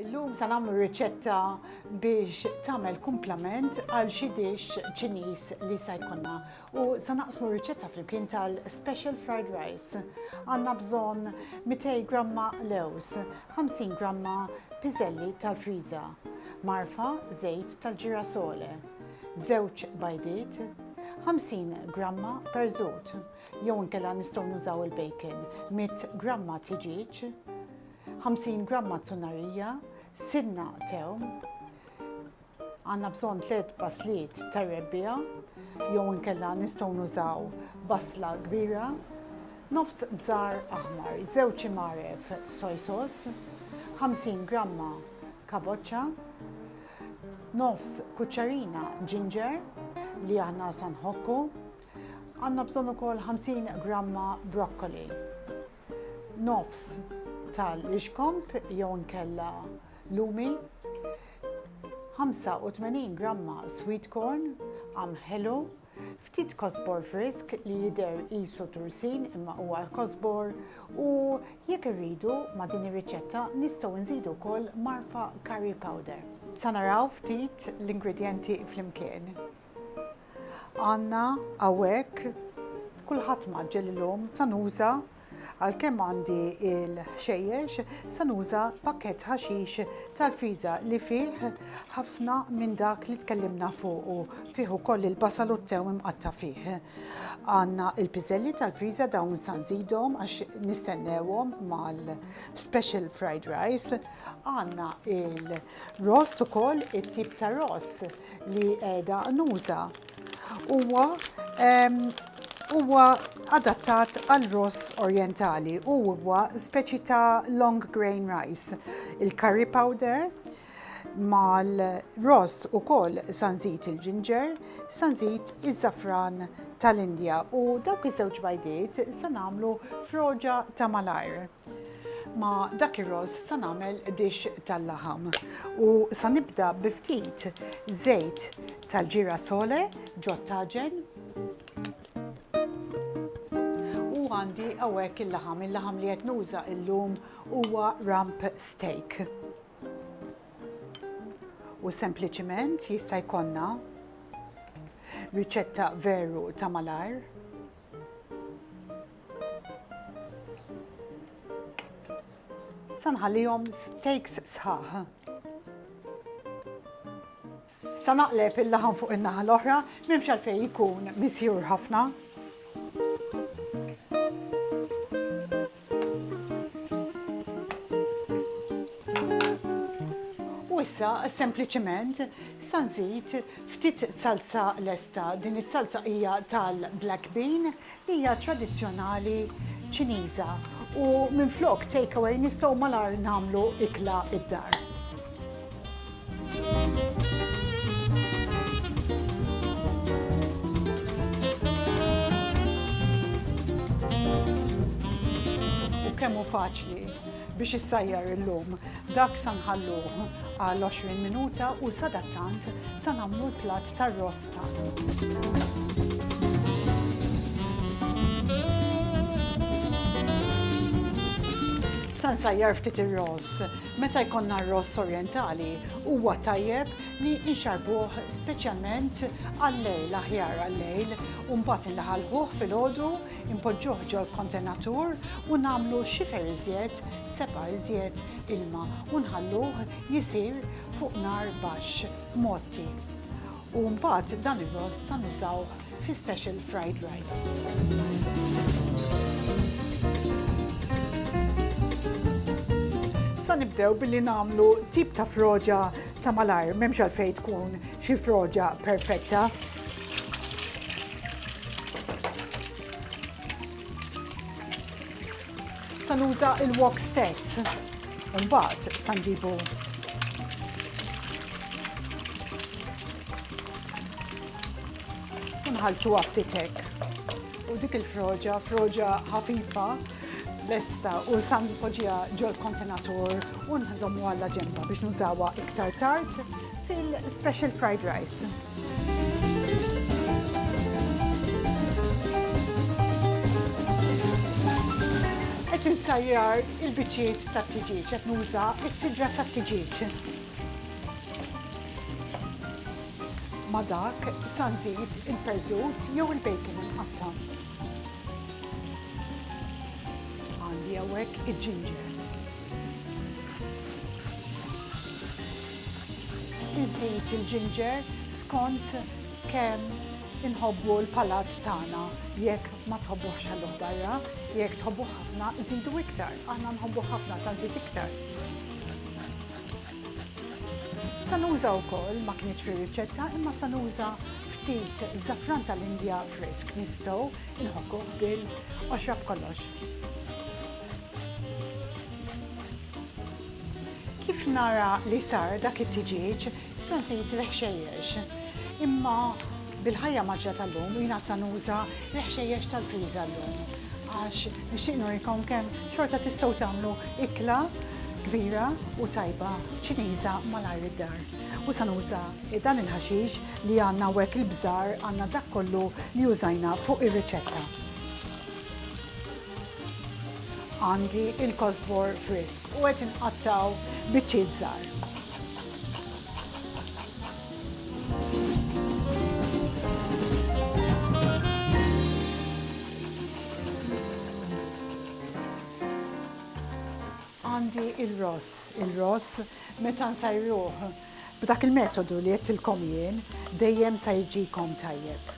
Illum se nagħmlu riċetta biex tagħmel kumplament għal xi dixx Ċiniż li se jkollna u se naqsmu riċetta flimkien tal-special fried rice. Għandna bżonn 200 gramma lewż, 50 gramma piżelli tal-friża, mgħarfa żejt tal-ġirasole, żewġ bajdiet, 50 gramma perżut, jew inkella nistgħu nużaw il-bacon, 100 gramma tiġieġ, 50 gramma zunnarija, sinna tewm, għandna bżonn tliet basliet tar-rebbiegħa jew inkella nistgħu nużaw basla kbira, nofs bżar aħmar, żewġ imaref soy sauce, 50 gramma kaboċċa, nofs kuċċarina ġinġer li aħna sa nħokku, għandna bżonn ukoll 50 gramma brokkoli. nofs tal-ixkomb jew inkella lumi, 85 gramma sweet corn, għam ħelu, ftit kosbor frisk li jidher qisu tursin imma huwa kosbor u jekk irridu ma' din ir-riċetta nistgħu nżidu wkoll marfa curry powder. Sa naraw ftit l-ingredjenti flimkien. Għandna hawnhekk kulħadd mgħaġġel illum sa nuża għalkemm għandi l-ħxejjex sa nuża pakkett ħaxix tal-friża li fih ħafna minn dak li tkellimna fuqu, fih ukoll il-basal u t-tew imqatta' fih. Għandna l-piżelli tal-friża dawn sa nżidhom għax nistennewhom mal-special fried rice. Għandna l-ross ukoll, it-tip ta' ross li qiegħda nuża. Huwa huwa adattat għal ross orjentali u huwa speċi ta' long grain rice. Il-curry powder mal-ross ukoll sanżit il-ġinġer, sanżit iż-żafran tal-Indja u dawk iż-żewġ bajdiet se nagħmlu froġa ta' malajr. Ma' dak ir-rożż sa nagħmel dixx tal-laħam u sa nibda bi ftit żejt tal-gira sole ġot-taġen u għandi hawnhekk il-laħam. Il-laħam li qed nuża illum huwa rump steak. U sempliċiment jista' jkollna riċetta veru ta' malajr. Sa nħallihom steaks sħaħ. Sa naqleb il-laħam fuq in-naħa l-oħra, m'hemmx għalfejn jkun misjur ħafna. U issa sempliċement sa nżid ftit salza lesta. Din is-salza hija tal-black bean, hija tradizzjonali Ċiniża u minflok take away nistgħu malajr nagħmlu ikla d-dar. U kemm hu faċli biex issajjar illum. Dak sa nħalluh għal 20 minuta u sadattant sa nagħmlu l-platt tar-ross tagħna. Sa nsajjar ftit ir-ross. Meta jkollna r-ross orjentali huwa tajjeb li nxarrbuh speċjalment għal-lejl, aħjar għal-lejl, u mbagħad inlaħalħuh filgħodu, inpoġġuh ġol-kontenatur u nagħmlu xifer iżjed, sebgħa iżjed ilma u nħalluh jisir fuq nar baxx, mgħotti. U mbagħad dan ir-ross sa nużawh fi special fried rice. Sa nibdew billi nagħmlu tip ta' froġa ta' malajr, m'hemmx għalfejn tkun xi froġa perfetta. Sa nuża il-wok stess. U mbagħad sa nġibu u nħalltuha ftit hekk. U dik il-froġa, froġa ħafifa, lesta u sa npoġġiha ġol-kontenatur u nżommuha għal ġenba biex nużawha iktar tard fil-special fried rice. Qed insajjar Il-biċċiet tat-tiġieġ, qed nuża s-sidra tat-tiġieġ. Ma' dak sa nżid il-perżut jew il-bacon imqatta'. Għandi hawnhekk il-ġinġer. Inżid il-ġinġer skont kemm inħobbu l-palat tagħna, jekk Ma tħobbuhx ħalluh barra, jekk tħobbuh ħafna nżidu iktar, aħna nħobbuh ħafna sa nżid iktar. Sa nuża wkoll ma kienx fir-riċetta imma sa nuża ftit żafran tal-Indja frisk nistgħu nħokkuh bil-qoxra b'kollox. Kif nara li sar dak it-tiġieġ, se nżid l-ħxejjex. Imma Bil-ħajja mgħaġġla tal-lum jiena sa nuża l-ħxejjex tal-friża llum għax nixtieq nurikom kemm xorta tistgħu tagħmlu ikla kbira u tajba Ċiniża malajr id-dar. U sa nuża dan il-ħaxix li għandna hawnhekk il-bżar għandna dak kollu li użajna fuq ir-riċetta. Għandi il-kosbor frisk u qed inqattgħu biċċiet żgħar. Għandi il-ross, il-ross meta nsajruh b'dak il-metodu li għedtilkom jien dejjem sa jiġikom tajjeb.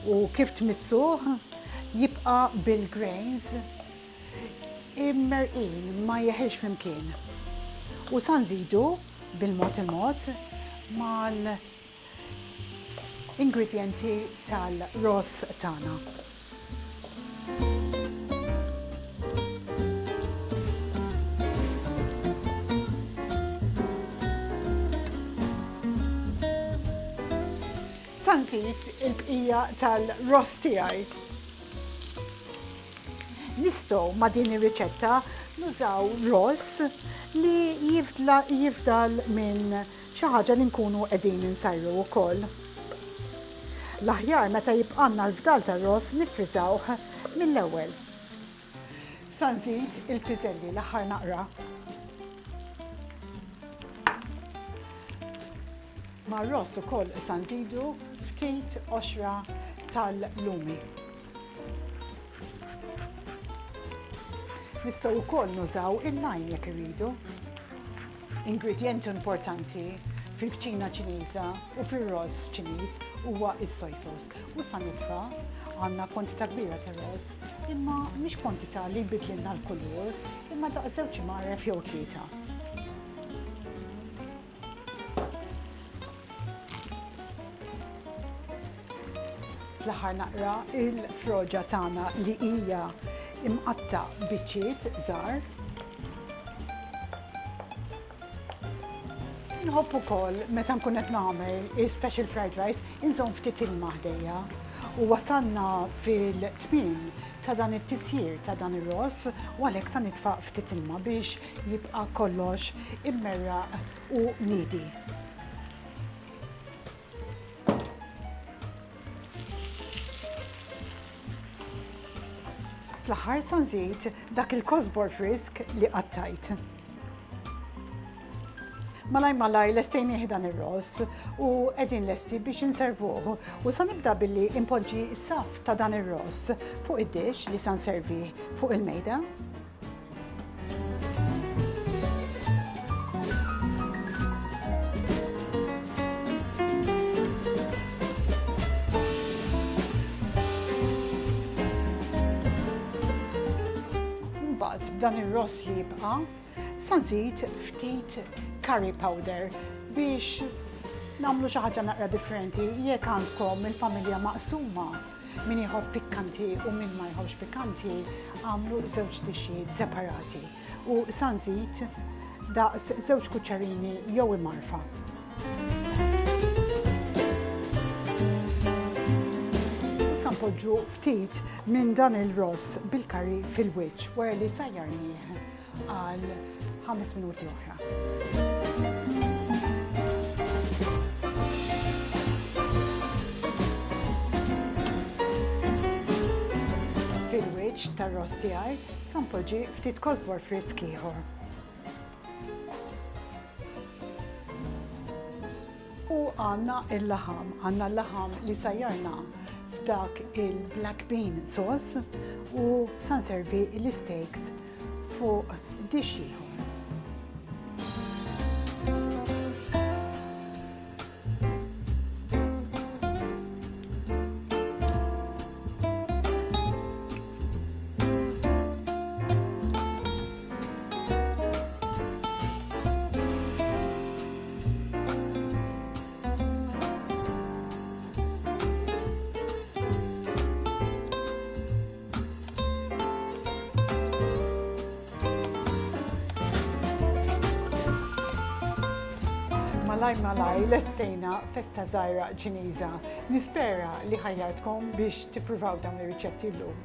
U kif tmissuh jibqa' bil-grains immerrqin ma jeħilx flimkien. U sa nżidu bil-mod il-mod mal-ingredjenti tal-ross tagħna. Sa nżid il-bqija tal-ross tiegħi. Nistgħu ma' din ir-riċetta nużaw ross li jifdal minn Xi ħaġa li nkunu qegħdin insajru wkoll. L-aħjar meta jibqgħalna l-fdal tar-ross niffriżawh mill-ewwel. Sa nżid il-piżelli l-aħħar naqra. Mar-ross ukoll sa nżidu ftit qoxra tal-lumi. Nistgħu wkoll nużaw il-lime jekk irridu. Ingredjent importanti fil-kċina Ċiniża u fir-ross Ċiniż huwa s-soy sauce. U sa nibqa' għandna kwantità kbira ta' ross, imma mhix kwantità li jbidlilna l-kulur, imma daqs żewġ imgħaref jew tlieta. Fl-aħħar naqra l-froġa tagħna li hija mqatta' biċċiet żgħar. Nħobb ukoll meta nkun qed nagħmel special fried rice inżomm ftit ilma ħdejja. U wasalna fil-tmiem ta' dan it-tisjir ta' dan ir-ross u għalhekk sa nitfa' ftit ilma biex jibqa' kollox immerraq u niedi. Fl-aħħar sa nżid dak il-kosbor frisk li qattajt. Malaj malaj lestejni dan ir-ross u qegħdin lesti biex inservuh. U sa nibda billi impoġġi saf ta' dan ir-ross fuq id-dix li sa nservi fuq il-mejda. Mbagħad b'dan ir-ross li jibqa' sa nżid ftit curry powder biex nagħmlu xi ħaġa naqra differenti jekk għandkom il-familja maqsuma Min jħobb pikkanti u min ma jħobbx pikkanti għamlu żewġ dixxijiet separati u sa nżid daqs żewġ kuċċarini jew imarfa. Sa npoġġu ftit minn dan il-ross bil-kari fil-wiċċ wara li sajjarnieh għal ħames minuti oħra. Fil-wiċċ tar-ross tiegħi se npoġġi ftit kosbor frisk ieħor. U għandna l-laħam, għandna l-laħam li sajjarna f'dak il-black bean sauce u sa nservi l-isteaks fuq dish ieħor. malaj malaj lestejna festa zaħira ċiniża. Nispera li ħajjatkom biex tippruvaw dawn ir-riċetti llum.